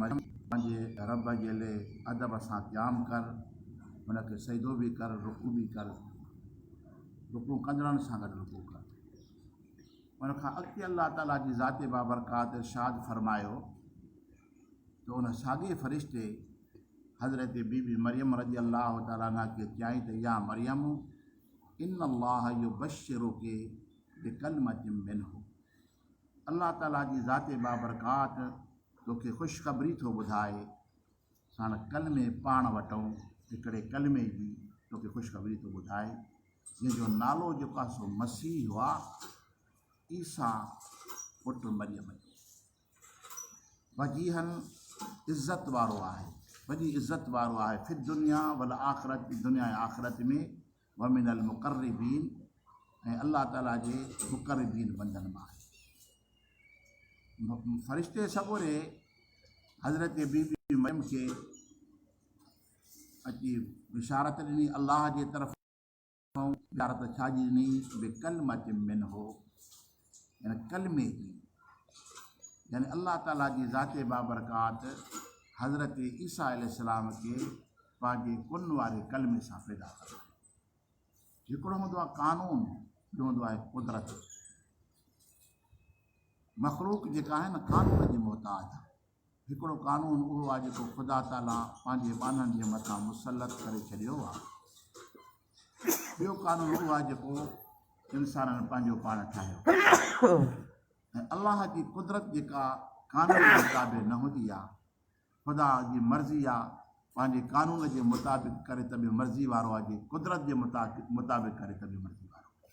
مريم پنهنجي رب جي لئه ادب سان قيام ڪر، هن کي سجدو به ڪر، رڪوع به ڪر، رڪوع ڪندڙن سان گڏ رڪوع ڪر. ان کان اڳتي الله تعالي جي ذات بابرڪات ارشاد فرمايو ته ان ساڳئي فرشتي حضرت بي بي مريم رضي الله تعاليٰ عنها کي چيائين ته يا مريم ان الله يبشرڪ بڪلمة منه الله تعاليٰ جي ذات بابرڪات توکي خوشخبري ٿو ٻڌائي، ساڻ ڪلمي پاڻ وٽئون هڪڙي ڪلمي جي توکي خوشخبري ٿو ٻڌائي، جنهن جو نالو جيڪو آهي سو مسيح هو، عيسيٰ پٽ مريم جو. وجيهن عزت وارو آهي، وڏي عزت وارو آهي، في الدنيا والآخرة، دنيا ۽ آخرت ۾. ومن المقربين ۽ الله تعالي جي مقربين بندن مان آهي فرشتي سڳوري حضرت بي بي مريم کي اچي بشارت ڏني الله جي طرف بشارت ڇا جي ڏني بڪلمت من هو يعني ڪلمي جي يعني الله تعالي جي ذات بابرڪات حضرت عيسيٰ عليه السلام کي پنهنجي ڪن واري ڪلمي سان پيدا ڪرڻ هڪڙو هوندو آهي قانون ٻيو هوندو آهي قدرت مخلوق جيڪا آهي نه قانون جي محتاج هڪڙو قانون اهو آهي جيڪو خدا تعاليٰ پنهنجي ٻانهن جي مٿان مسلط ڪري ڇڏيو آهي. ٻيو قانون اهو آهي جيڪو انسانن پنهنجو پاڻ ٺاهيو ۽ الله جي قدرت جيڪا قانون جي تابع نه هوندي آهي. خدا جي مرضي آهي پنهنجي قانون جي مطابق ڪري ته به مرضي وارو آهي جي قدرت جي مطابق ڪري ته به مرضي وارو آهي.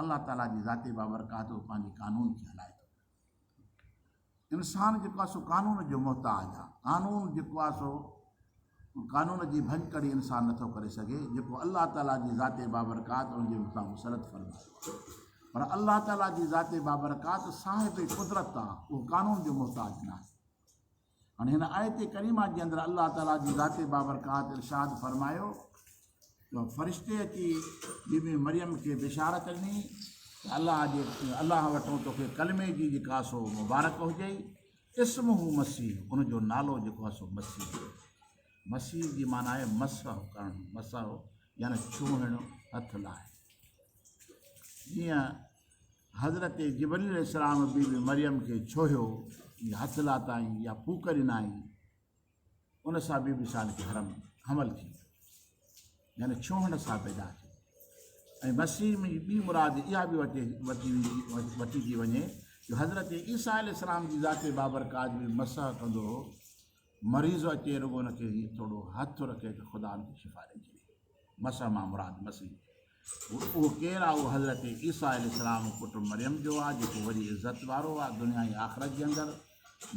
الله تعالي جي ذات بابرڪات هو پنهنجي قانون کي هلائي ٿو پيو انسان جيڪو آهي سو قانون جو محتاج آهي قانون جيڪو آهي سو قانون جي ڀڃڪڙي انسان نٿو ڪري سگهي جيڪو الله تعالي جي ذات بابرڪات ان جي مٿان مسرت فرمائي پر الله تعالي جي ذات بابرڪات صاحب قدرت آهي اهو قانون جو محتاج ناهي هاڻي هن آيت ڪريمه جي اندر الله تعالي جي ذات بابرڪات ارشاد فرمايو ته فرشتي اچي بيبي مريم کي بشارت ڏني ته الله جي الله وٽو توکي ڪلمي جي جيڪا سو مبارڪ هجئي اسم هو مسيح ان جو نالو جيڪو آهي سو مسيح مسيح جي معنی آهي مسح ڪرڻ مسح يعني ڇوهڻ هٿ لاهي جيئن حضرت جبريل عليه السلام بي بي مريم کي ڇوهيو يا هٿ لاتائين يا ڦوڪ ڏنائين ان سان بي بي صالح کي حرم حمل ٿي يعني ڇوهڻ سان پيدا ٿي ۽ مسيح ۾ ٻي مراد اها به وٽي وٺي ويندي وٺي ٿي وڃي جو حضرت عيسيٰ عليه السلام جي ذات بابرڪات بي مسح ڪندو هو مريض اچي رڳو هن کي ٿورو هٿ رکي ته خدا ان کي شفا ڏئي ڇڏي مسح مان مراد مسيح هو. اهو ڪير آ؟ اهو حضرت عيسيٰ عليه السلام پٽ مريم جو آ، جيڪو وڏي عزت وارو آ دنيا ۽ آخرت جي اندر،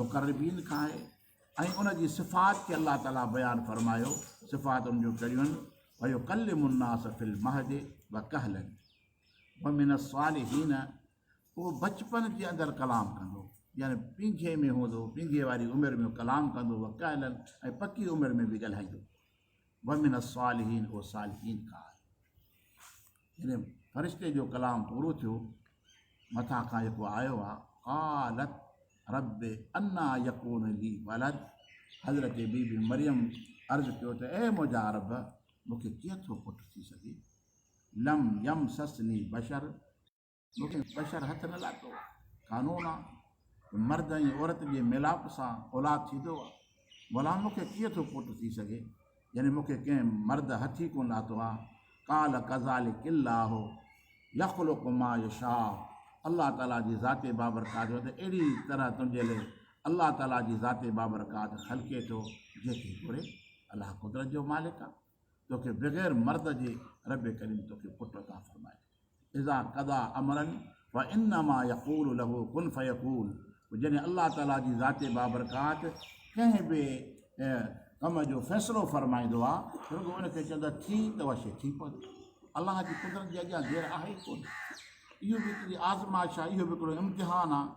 مقربين کان آهي ۽ ان جي صفات کي الله تعاليٰ بيان فرمايو، صفات ان جون ڪهڙيون آهن، ويڪلم الناس في المهد وڪهلا ومن الصالحين اهو بچپن جي اندر ڪلام ڪندو يعني پينگهي ۾ هوندو، پينگهي واري عمر ۾ ڪلام ڪندو، وڪهلا ۽ پڪي عمر ۾ به ڳالهائيندو. ومن الصالحين اهو صالحين کان آهي يعني فرشتي جو ڪلام پورو ٿيو مٿان کان جيڪو آيو آ قالت رب انا يڪون لي ولد حضرت بي بي مريم عرض ڪيو ته اي مجا رب مونکي ڪيئن ٿو پٽ ٿي سگهي لم يم سسني بشر مون بشر هٿ نه لاٿو. قانون آ ته مرد ۽ عورت جي ميلاپ سان اولاد ٿيندو آ. ڀلا مون کي ڪيئن ٿو پٽ ٿي سگهي؟ يعني مون کي ڪنهن مرد هٿ ئي ڪونه لاٿو آ. قال ڪذالڪ الله يخلق ما يشاء الله تعاليٰ جي ذات بابرڪات جو ته اهڙي طرح تنهنجي لئه الله تعاليٰ جي ذات بابرڪات خلقي ٿو جنهن کي گهري. الله قدرت جو مالڪ آ. توکي بغير مرد جي رب ڪريم توکي پٽ عطا فرمائي ڇڏي. اذا قضا امرا فانما يقول له ڪن فيڪون پوء جڏهن الله تعاليٰ جي ذات بابرڪات ڪنهن به ڪم جو فيصلو فرمائيندو آهي ته رڳو ان کي چوندو آهي ٿي ته اها شيء ٿي پوندي. الله جي قدرت جي اڳيان دير آهي ئي ڪونه. اهو به هڪڙي آزمائش آهي، اهو به هڪڙو امتحان آهي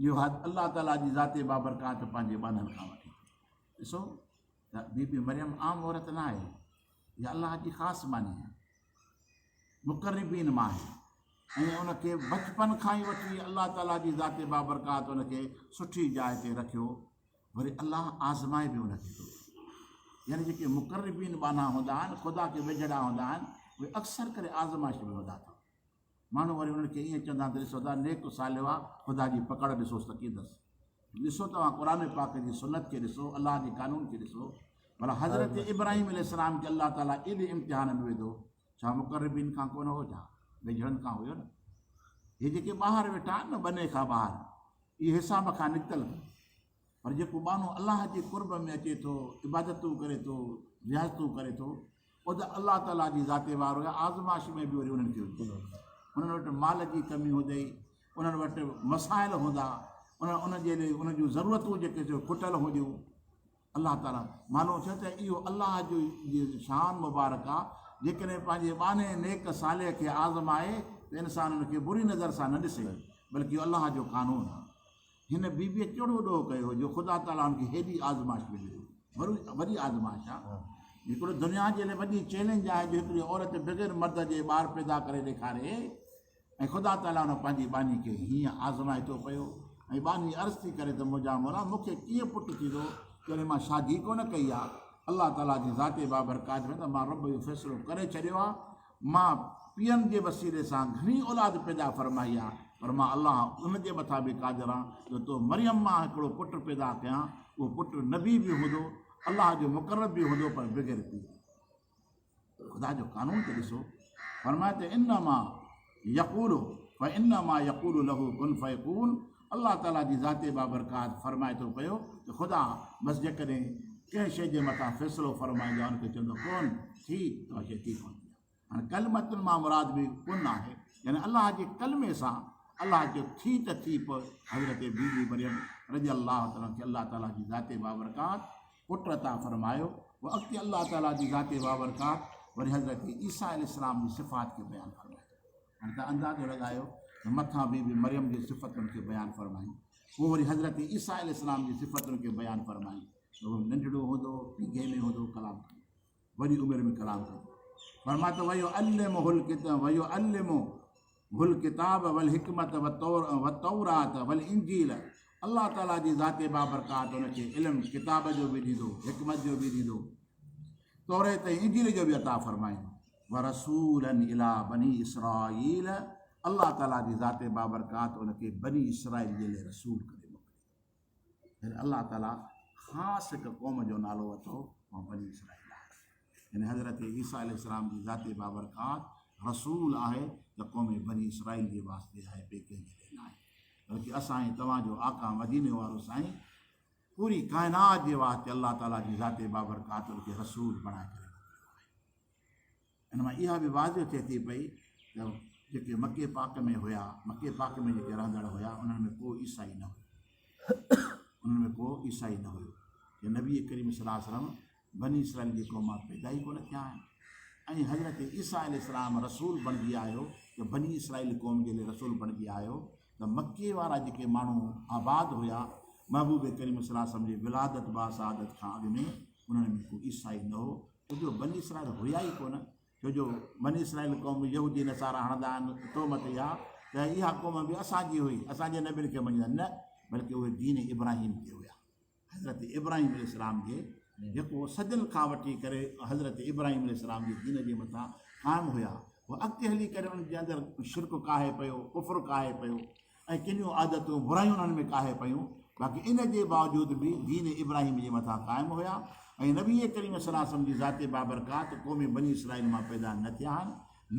جو الله تعاليٰ جي ذات بابرڪات پنهنجي ٻانهن کان وٺي ڏسو، ته بي بي مريم عام عورت نه آهي، اها الله جي خاص ماني آهي، مقربين مان آهي ۽ ان کي بچپن کان ئي وٺي الله تعاليٰ جي ذات بابرڪات ان کي سٺي جاء تي رکيو، وري الله آزمائي به ان کي ٿو. يعني جيڪي مقربين ٻانها هوندا آهن، خدا کي ويجهڙا هوندا آهن، اهي اڪثر ڪري آزمائش ۾ هوندا اٿن. ماڻهو وري انهن کي ائين چوندا ته ڏسو ته نيڪ صالح هئا، خدا جي پڪڙ ڏسوس ته ڪيئن اٿس. ڏسو توهان قرآن پاڪ جي سنت کي ڏسو، الله جي قانون کي ڏسو، ڀلا حضرت ابراهيم عليه السلام کي الله تعاليٰ ايڏي امتحان ۾ وڌو، ڇا مقربين کان ڪونه هو ڇا؟ ويجهڙن کان هيو نه. هي جيڪي ٻاهر ويٺا آهن نه بني کان ٻاهر، اهي حساب کان نڪتل. پر جيڪو ٻانهو الله جي قرب ۾ اچي ٿو، عبادتون ڪري ٿو، رياضتون ڪري ٿو، پوء ته الله تعاليٰ جي ذات وارو يا آزمائش ۾ به وري انهن کي هجي. انهن وٽ مال جي ڪمي هجي، انهن وٽ مسائل هوندا، انهن ان جي لئي انهن جون ضرورتون جيڪي سو کٽل هونديون. الله تعاليٰ معلوم ٿيو ته اهو الله جو جي شان مبارڪ آ، جيڪڏهن پنهنجي ٻانهي نيڪ صالح کي آزمائي ته انسان ان کي بري نظر سان نه ڏسي، بلڪه اهو الله جو قانون آ. هن بيبيء ڪهڙو ڏوهه ڪيو هو جو خدا تعاليٰ هن کي هيڏي آزمائش ۾ وجهي. وري وڏي آزمائش آهي. هڪڙو دنيا جي لاء وڏي چئلينج آهي جو هڪڙي عورت بغير مرد جي ٻار پيدا ڪري ڏيکاري ۽ خدا تعاليٰ هن پنهنجي ٻانهي کي هيئن آزمائي ٿو پيو ۽ ٻانهي عرض ٿي ڪري ته منهنجا مولا مون کي ڪيئن پٽ ٿيندو جڏهن مان شادي ڪونه ڪئي آهي. الله تعاليٰ جي ذات بابرڪات ۾ ته مان رب اهو فيصلو ڪري ڇڏيو آهي. مان پيئن جي وسيلي سان گهڻي اولاد پيدا فرمائي آ، پر مان الله ان جي مٿان به قادر آهيان جو تو مريم مان هڪڙو پٽ پيدا ڪيان، اهو پٽ نبي به هوندو، الله جو مقرب به هوندو پر بغير پيء جي. خدا جو قانون ته ڏسو، فرمائي ته انما يقول فانما يقول له ڪن فيڪون، الله تعاليٰ جي ذات بابرڪات فرمائي ٿو پيو ته خدا بس جيڪڏهن ڪنهن شيء جي مٿان فيصلو فرمائي يا ان کي چوندو ڪون ٿي ته اها شيء ٿي ڪون ٿي هاڻي ڪلمتن مان مراد به ڪن آهي يعني الله جي ڪلمي سان الله جو ٿي ته ٿي پوء حضرت بي بي مريم رضي الله تعاليٰ کي الله تعاليٰ جي ذات بابرڪات پٽ عطا فرمايو و اڳتي الله تعاليٰ جي ذات بابرڪات وري حضرت عيسيٰ عليه السلام جي صفات کي بيان فرمايو هن ته اندازو لڳايو ته مٿان بي بي مريم جي صفتن کي بيان فرمائين، پوء وري حضرت عيسيٰ عليه السلام جي صفتن کي بيان فرمائين ته هو ننڍڙو هوندو هو، پيگهي ۾ هوندو هو، ڪلام ڪندو هو، وڏي عمر ۾ ڪلام ڪندو هو. فرمايو ته ويعلمه الڪتاب ويعلمه الڪتاب والحڪمت والتورات والانجيل الله تعاليٰ جي ذات بابرڪات هن کي علم ڪتاب جو به ڏيندو، حڪمت جو به ڏيندو، توريت ۽ انجيل جو به عطا فرمائيندو. ورسولا الي بني اسرائيل الله تعالي جي ذات بابرڪات ان کي بني اسرائيل جي لئه رسول ڪري موڪليو يعني الله تعالي خاص هڪ قوم جو نالو اٿو اها بني اسرائيل آهي يعني حضرت عيسيٰ عليه السلام جي ذات بابرڪات رسول آهي ته قوم بني اسرائيل جي واسطي آهي ٻئي ڪنهن جي لئه ناهي بلڪه اسان ۽ توهان جو آقا مديني وارو سائين پوري ڪائنات جي واسطي الله تعالي جي ذات بابرڪات ان کي رسول بڻائي ڪري ان مان اها به واضح ٿئي ٿي پئي ته جيڪي مڪي پاڪ ۾ هيا مڪي پاڪ ۾ جيڪي رهندڙ هيا انهن ۾ ڪو عيسائي نه هيو انهن ۾ ڪو عيسائي نه هيو ۽ نبي ڪريم صليٰ وسلم بني اسرائيل جي قوم مان پيدا ئي ڪونه ٿيا آهن ۽ حضرت عيسيٰ عليه السلام رسول بڻجي آيو جو بني اسرائيل قوم جي لاء رسول بڻجي آيو ته مکي وارا جيڪي ماڻهو آباد هيا محبوب ڪريم صلاح سم جي ولادت باسعادت کان اڳ ۾ انهن ۾ ڪو عيسائي نه هو ڇو جو بني اسرائيل هيا ئي ڪونه، ڇو جو بني اسرائيل قوم يهودي نصارا هڻندا آهن تهمت اها ته اها قوم به اسان جي هئي، اسان جي نبين کي مڃيندا نه بلڪه اهي دين ابراهيم تي هيا. حضرت ابراهيم عليه السلام جي جيڪو صدين کان وٺي ڪري حضرت ابراهيم عليه السلام جي دين جي مٿان قائم هيا، اهو اڳتي هلي ڪري انهن جي اندر شرڪ ڪاهي پيو، ڪفر ڪاهي پيو. ۽ ڪنيون عادتون، برايون انهن ۾ ڪاهي پيون، باقي ان جي باوجود به دين ابراهيم جي مٿان قائم هيا ۽ نبي ڪريم صلي الله عليه وسلم جي ذات بابرڪات قوم بني اسرائيل مان پيدا نه ٿيا آهن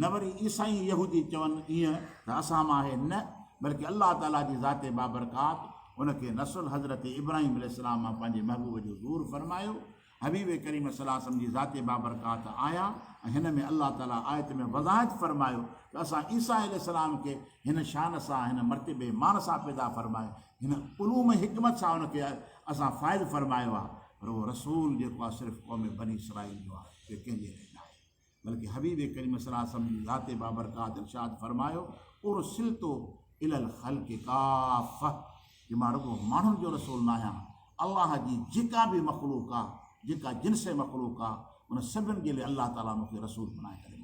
نه وري عيسائي ۽ يهودي چون ايئن ته اسان مان آهي نه بلڪه الله تعاليٰ جي ذات بابرڪات ان کي نسل حضرت ابراهيم عليه السلام مان پنهنجي محبوب جو ظهور فرمايو حبيب ڪريم صلي الله عليه وسلم جي ذات بابرڪات آيا ۽ هن ۾ الله تعالي آيت ۾ وضاحت فرمايو ته اسان عيسيٰ عليه السلام کي هن شان سان هن مرتبي مان سان پيدا فرمايو هن علوم حڪمت سان ان کي اسان فائز فرمايو آهي پر اهو رسول جيڪو آهي صرف قوم بني اسرائيل جو آهي ٻي ڪنهن جي لاء ناهي. بلڪه حبيب ڪريم صلي الله عليه وسلم جي ذات بابرڪات ارشاد فرمايو ارسلت الي الخلق ڪافه جو مان رڳو ماڻهن جو رسول نه آهيان الله جي جيڪا به مخلوق آ جيڪا جنس مخلوق آ ان سڀن جي لاء الله تعالي مون کي رسول بنائي ڪري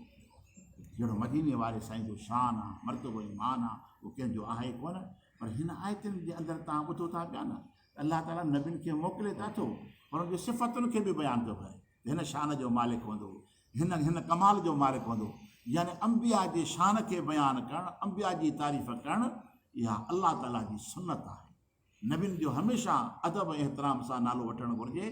جهڙو مديني واري سائين جو شان آ مرتبو ايمان آ اهو ڪنهن جو آهي ڪون پر هن آيتن جي اندر تان ٻڌو ٿا پيا نه الله تعالي نبين کي موڪلي ته ٿو پر ان جي صفتن کي به بيان ٿو ڪري هن شان جو مالڪ هوندو، هن هن ڪمال جو مالڪ هوندو، يعني انبياء جي شان کي بيان ڪرڻ، انبياء جي تعريف ڪرڻ اها الله تعالي جي سنت آهي. نبين جو هميشه ادب ۽ احترام سان نالو وٺڻ گهرجي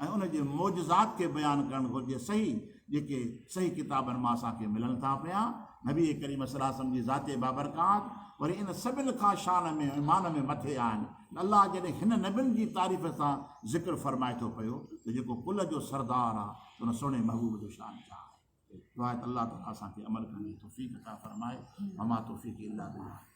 ۽ ان جي معجزات کي بيان ڪرڻ گهرجي صحيح جيڪي صحيح ڪتابن مان اسان کي ملن ٿا پيا. نبي ڪريم صلعم جي ذات بابرڪات وري ان سڀن کان شان ۾ مان ۾ مٿي آهن. الله جڏهن هن نبين جي تعريف سان ذڪر فرمائي ٿو پيو ته جيڪو ڪل جو سردار آ ته ان سهڻي محبوب جو شان ڇا آهي؟ دعا ته الله تعالي اسان کي عمل ڪرڻ جي توفيق عطا فرمائي وما توفيقي الا بالله.